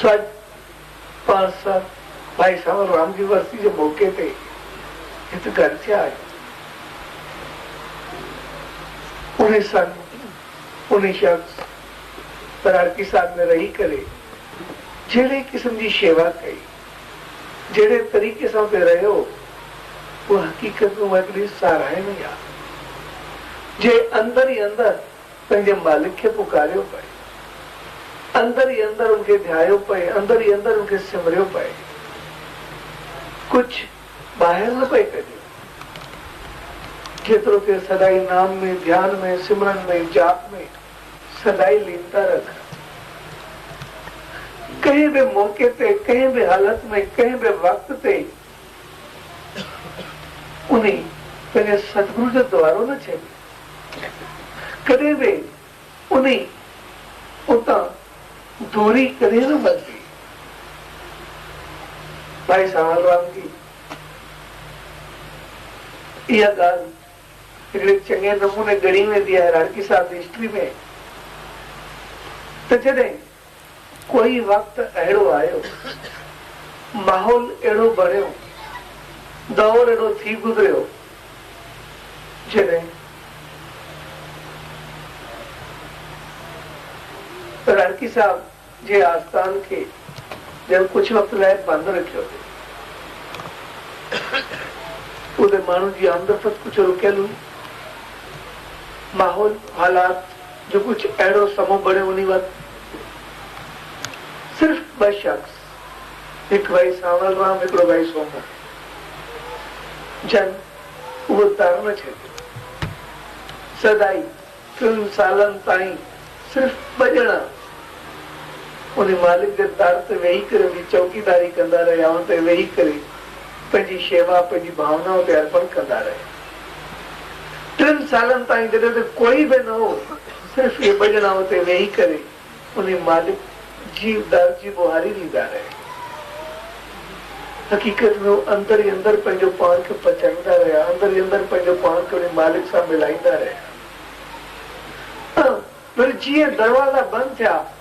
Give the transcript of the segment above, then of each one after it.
سج پاڻ سان ڀائي سانول رام جي ورسي جي موقعي تي هت گڏ ٿيا آهيون. انهي سان انهي شخص پراڙڪي ساڳ ۾ رهي ڪري جهڙي قسم جي شيوا ڪئي، جهڙي طريقي سان اتي رهيو اها حقيقت ۾ هڪڙي ساراهڻي آهي. جنهن اندر ئي اندر پنهنجي مالڪ کي پڪاريو پئي. اندر ئي اندر ان کي ڌيايو پئي، اندر ئي اندر ان کي سمريو پئي. ڪجهه ٻاهر نه پئي ڪڍيو. جيترو ٿئي سدائين نام ۾، ڌيان ۾، سمرن ۾، جاپ ۾، سدائين ليندا رک. ڪنهن به موقعي تي، ڪنهن به حالت ۾، ڪنهن به وقت تي انهي پنهنجي ستگرو جو دوارو نه ڇڏيو. ڪڏهن به انهي اتان دوري ڪري نه ورتي. ڀائي سانول رام جي اها ڳالهه هڪڙي چڱي نموني ڳڻي ويندي آهي راڻڪي صاحب جي هسٽري ۾ ته جڏهن ڪوئي وقت اهڙو آيو، ماحول اهڙو بڻيو، دور اهڙو ٿي گذريو، جڏهن رڻڪي صاحب جي آستان کي ڄڻ ڪجهه وقت لاء بند رکيو ويو. اتي ماڻهن جي آمدرفت ڪجهه رڪيل هئي. ماحول، حالات جو ڪجهه اهڙو سمو بڻيو انهي وقت صرف ٻه شخص هڪ ڀائي سانول رام هڪڙو ڀائي سومرا جن اهو در نه ڇڏيو سدائي ٽن سالن تائين صرف ٻه ڄڻا انهي مالڪ جي در تي ويهي ڪري جي چوڪيداري ڪندا رهيا ان تي ويهي ڪري پنهنجي شيوا پنهنجي ڀاونائن تي ارپڻ ڪندا رهيا. ٽن سالن تائين جڏهن ته ڪوئي به نه هو، صرف اهي ٻه ڄڻا اتي ويهي ڪري انهي مالڪ جي در جي ٻوهاري ڏيندا رهيا. حقيقت ۾ هو اندر ئي اندر پنهنجو پاڻ کي پچائيندا رهيا، اندر ئي اندر پنهنجو پاڻ کي انهي مالڪ سان ملائيندا رهيا ۽ وري جيئن دروازا بند ٿيا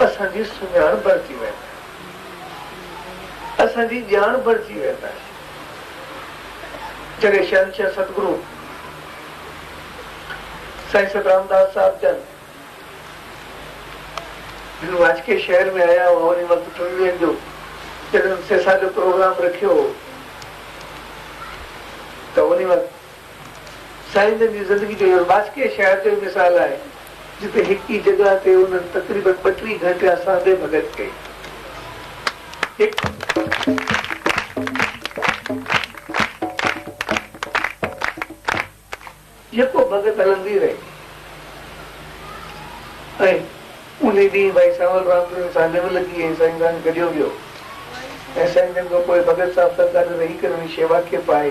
اسان جي سڃاڻ بڻجي ويندائين. اسان جي ڄاڻ بڻجي ويندائين. جڏهن شهنشاهه ستگرو سائين سترامداس صاحب جن هن واچڪي شهر ۾ آيا هئا انهي وقت ٽن ڏينهن جو جڏهن سيسا جو پروگرام رکيو هو ته انهي وقت سائين جن جي زندگي جو اهو باسڪيء شهر جو ئي مثال آهي، جتي هڪ ئي جڳهه تي انهن تقريباً ٻٽيهه گهنٽيا ساندهي ڀڳت ڪئي. يڪو ڀڳت هلندي رهي ۽ انهي ڏينهن ڀائي سانول رام جن سان نيو لڳي ۽ سائين جان گڏيو ويو ۽ سائين جن کان پوء ڀڳت صاحب سان گڏ رهي ڪرڻي شيوا کي پائي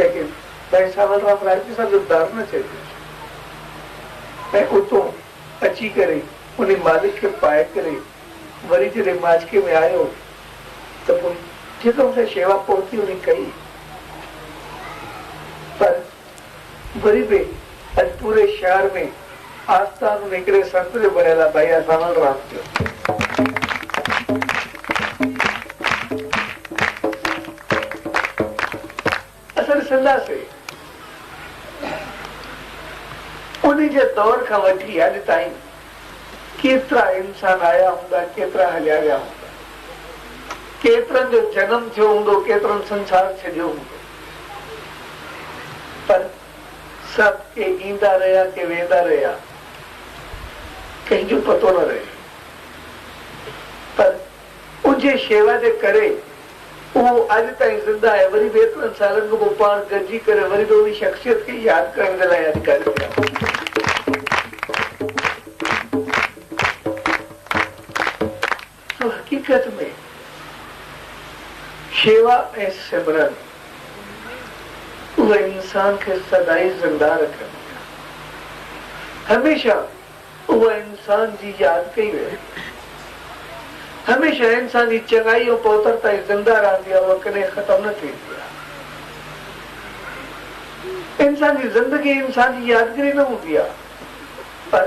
ليڪن ٻئي سال کان پرائيم منسٽر جو دار نه چئي پيو اچي ۽ اتون اچي ڪري انهي مالڪ کي پائي ڪري وري جڏهن ماڇڪي ۾ آيو ته پوء ٺيڪ مون کي شيوا پهتي انهي ڪئي پر وري به اڄ پوري شهر ۾ آستان ۾ هڪڙي سنت جو بڻيل آهي ڀائي اسان سان رات جو اسان ڏسنداسي انهي جي دور کان وٺي اڄ تائين ڪيترا انسان آيا هوندا ڪيترا هليا ويا هوندا ڪيترن جو جنم ٿيو هوندو ڪيترن سنسار ڇڏيو هوندو. پر سڀ ڪي ايندا رهيا ڪي ويندا رهيا ڪنهن جو پتو نه رهيو پر اجهي شيوا جي ڪري اهو اڄ تائين زنده آهي وري به ايترن سالن کان پوء پاڻ گڏجي ڪري وري به انهي شخصيت کي ياد ڪرڻ جي لاء اڄ گڏ ٿيا آهيون. سو حقيقت ۾ شيوا ۽ سمرن اهي انسان کي سدائين زنده رکن ٿيون. هميشه اهي انسان جي ياد ڪئي وينديون. هميشه انسان جي چڱائي ۽ پوتر تائين زنده رهندي آهي اها ڪڏهن ختم نه ٿيندي آهي. انسان جي زندگي انسان جي يادگري نه هوندي آهي پر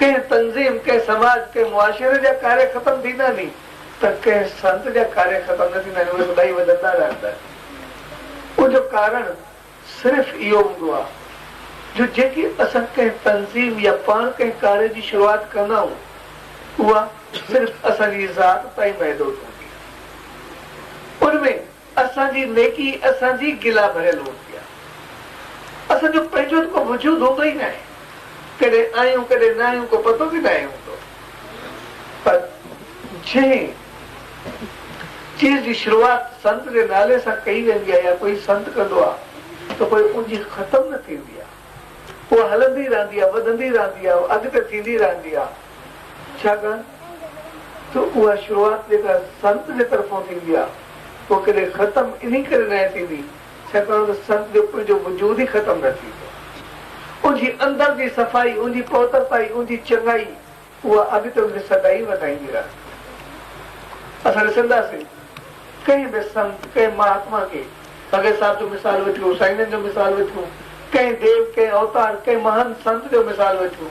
ڪنهن تنظيم، ڪنهن سماج، ڪنهن معاشري جا ڪاري ختم ٿيندا آهني ته ڪنهن سنت جا ڪاري ختم نه ٿيندا آهن اهي سدائين وڌندا رهندا آهن ان جو ڪارڻ صرف اهو هوندو آهي جو جيڪي اسان ڪنهن تنظيم يا پاڻ ڪنهن ڪاري جي شروعات ڪندا آهيون اها صرف اسان جي ذات تائين محدود هوندي آهي ان ۾ اسان جي نيڪي اسان جي گلا ڀريل هوندي آهي. اسان جو پنهنجو ته ڪو وجود هوندو ئي ناهي. ڪڏهن آهيون ڪڏهن نه آهيون ڪو پتو به ناهي هوندو. پر جنهن چيز جي شروعات سنت جي نالي سان ڪئي ويندي آهي يا ڪوئي سنت ڪندو آهي ته پوء ان جي ختم نه ٿيندي آهي. اها هلندي رهندي آهي، وڌندي رهندي آهي، اڳتي ٿيندي رهندي آهي. ڇاڪاڻ ته اها شروعات جيڪا سنت جي طرفون ٿيندي آهي اها ڪڏهن ختم انهي ڪري ناهي ٿيندي ڇاڪاڻ ته سنت جو پنهنجو وجود ئي ختم نه ٿيندو ان جي اندر جي صفائي ان جي پوترتائي ان جي چڱائي اها اڳتي ان کي سدائين وڌائيندي رهندي اسان ڏسنداسين ڪنهن به سنت ڪنهن مهاتما کي فقير صاحب جو مثال وٺيون سائين جن جو مثال وٺيون ڪنهن ديو ڪنهن اوتار ڪنهن مهان سنت جو مثال وٺيون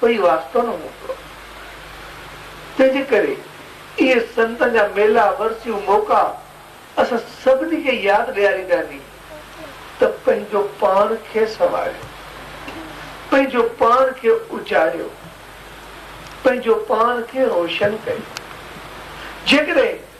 پئي واسطو نه موڪلو. تنهنجي ڪري اهي سنتن جا ميلا، ورسيون، موقعا اسان سڀني کي ياد ڏيارينداني ته پنهنجو پاڻ کي سنواريو، پنهنجو پاڻ کي اجاڙيو، پنهنجو پاڻ کي روشن ڪريو. جيڪڏهن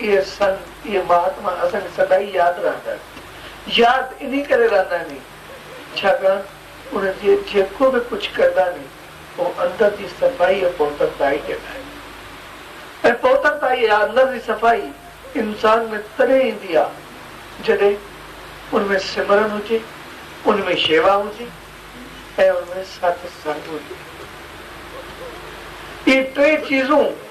اهي سنت، اهي مهاتما اسان کي سدائين ياد رهندا. ياد انهي ڪري رهندا ني، ڇاڪاڻ انهن جي جيڪو به ڪجهه ڪردا ني، اهو اندر جي صفائي ۽ پوترتائي جي لاء آهي. ۽ پوترتائي يا اندر جي صفائي انسان ۾ تڏهن ايندي آ، جڏهن ان ۾ سمرن هجي، ان ۾ شيوا هجي ۽ ان ۾ ساٿ سنگ هجي. اهي ٽي چيزون